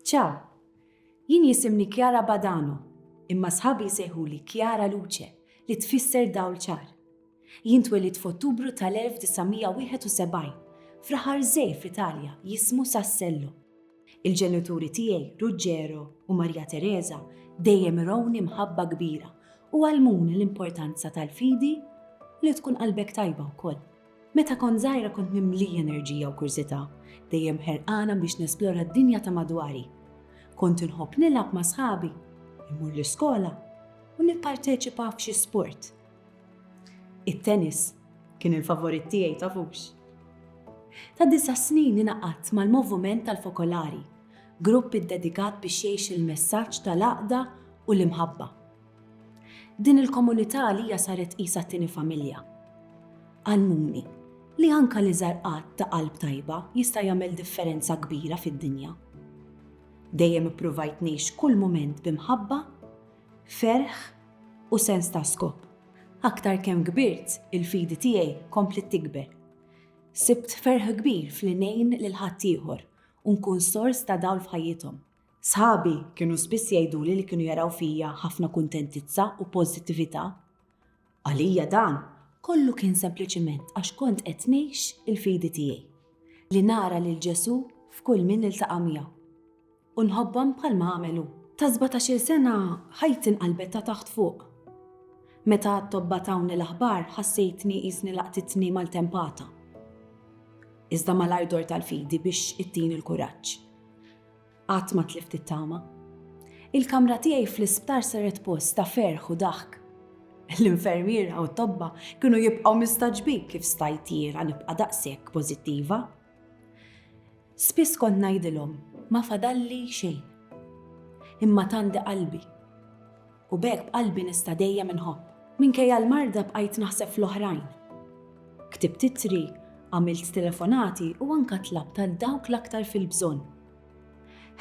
Ciao, jien jisimni Chiara Badano, imma sħabi jsejħuli Chiara Luce li tfisser dawl ċar. Jien twelid f'Ottubru tal-1971 f'raħar żgħir fl-Italja jismu Sassello. Il-ġenituri tiegħi, Ruggero u Maria Teresa, dejjem irawni mħabba kbira u għallmuni l-importanza tal-fidi li tkun qalbek tajba wkoll. Meta kont żgħira kont mimlija enerġija u kurżità, dejjem ħerqana biex nesplora d-dinja ta' madwari. Kont inħobb nilgħab ma' sħabi, immur l-iskola u nipparteċipa f'xi sport. It-tennis kien il-favorit tiegħi tafux. Ta' disa' snin ingħaqadt mal-Movument tal-Fokolari, grupp iddedikat biex jgħix il-messaġġ tal-għaqda u l-imħabba. Din il-komunità għalija saret qisha t-tieni familja. Għallmuni li anke l-iżgħar att ta' qalb tajba jista' jagħmel differenza kbira fid-dinja. Dejjem ippruvajt ngħix kull mument bi mħabba, ferħ u sens ta' skop. Aktar kemm kbirt, il-fidi tiegħi kompliet tikber. Sibt ferħ kbir f'li ngħin lil ħaddieħor u nkun sors ta' dawl f'ħajjithom. Sħabi kienu spiss jgħiduli li kienu jaraw fija ħafna kuntentizza u pożittività. Għalija dan kollu kien sempliċiment għax kont qed ngħix il-fidi tiegħi, li nara lil Ġesù f'kull min niltaqa' miegħu u nħobbhom bħalma għamel hu. Ta' sbatax-il sena ħajti nqalbet ta' taħt fuq. Meta t-tobba tawni l-aħbar ħassejtni qisni laqtitni maltempata. Iżda malajr dort għall-fidi biex ittini l-kuraġġ. Qatt ma tlift it-tama. Il-kamra tiegħi fl-isptar saret post ta' ferħ u daħk. L-infermiera u t-tobba kienu jibqgħu mistagħġbin kif stajt jiena nibqa' daqshekk pożittiva. Spiss kont ngħidilhom ma fadalli xejn. Imma tandi qalbi. U b'hekk b'qalbi nista' dejjem inħobb. Minkejja l-marda bqajt naħseb fl-oħrajn. Ktibt ittri, għamilt telefonati u anka tlabt għal dawk l-aktar fil-bżonn.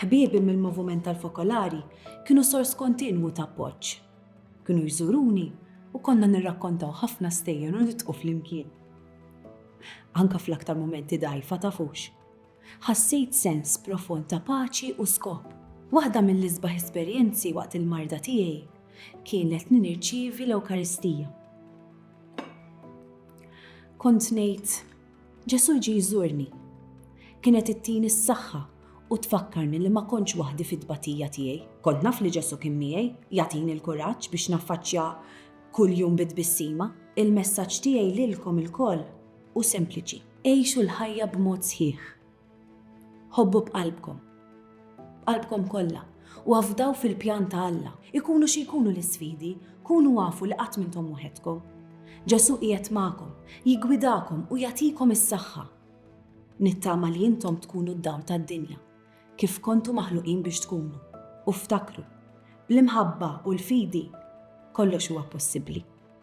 Ħbiebi mill-Movument tal-Fokolari kienu sors kontinwu ta' appoġġ. Kienu jżuruni u konna nirrakkontaw ħafna stejjer u nidħku flimkien. Anka fl-aktar mumenti dgħajfa tafux. Ħassejt sens profond ta' paċi u skop. Waħda mill-isbaħ esperjenzi waqt il-marda tiegħi kienet li nirċievi l-Ewkaristija. Kont ngħid, Ġesù ġie jżurni. Kienet ittini s-saħħa u tfakkarni li ma kontx waħdi fit-tbatija tiegħi. Kont naf li Ġesù kien miegħi, jagħtini l-kuraġġ biex naffaċċja kuljum bi tbissima. Il-messaġġ tiegħi lilkom ilkoll u sempliċi. Għixu l-ħajja b'mod sħiħ. Ħobbu b'qalbkom, b'qalbkom kollha, u afdaw fil-pjan ta' Alla. Ikunu xi jkunu l-isfidi, kunu afu li qatt m'intom waħedkom. Ġesù qiegħed magħkom, jiggwidakom u jagħtikom is-saħħa. Nittama li intom tkunu d-dawl tad-dinja, kif kontu maħluqin biex tkunu. U ftakru, bl-imħabba u l-fidi, kollox huwa possibbli.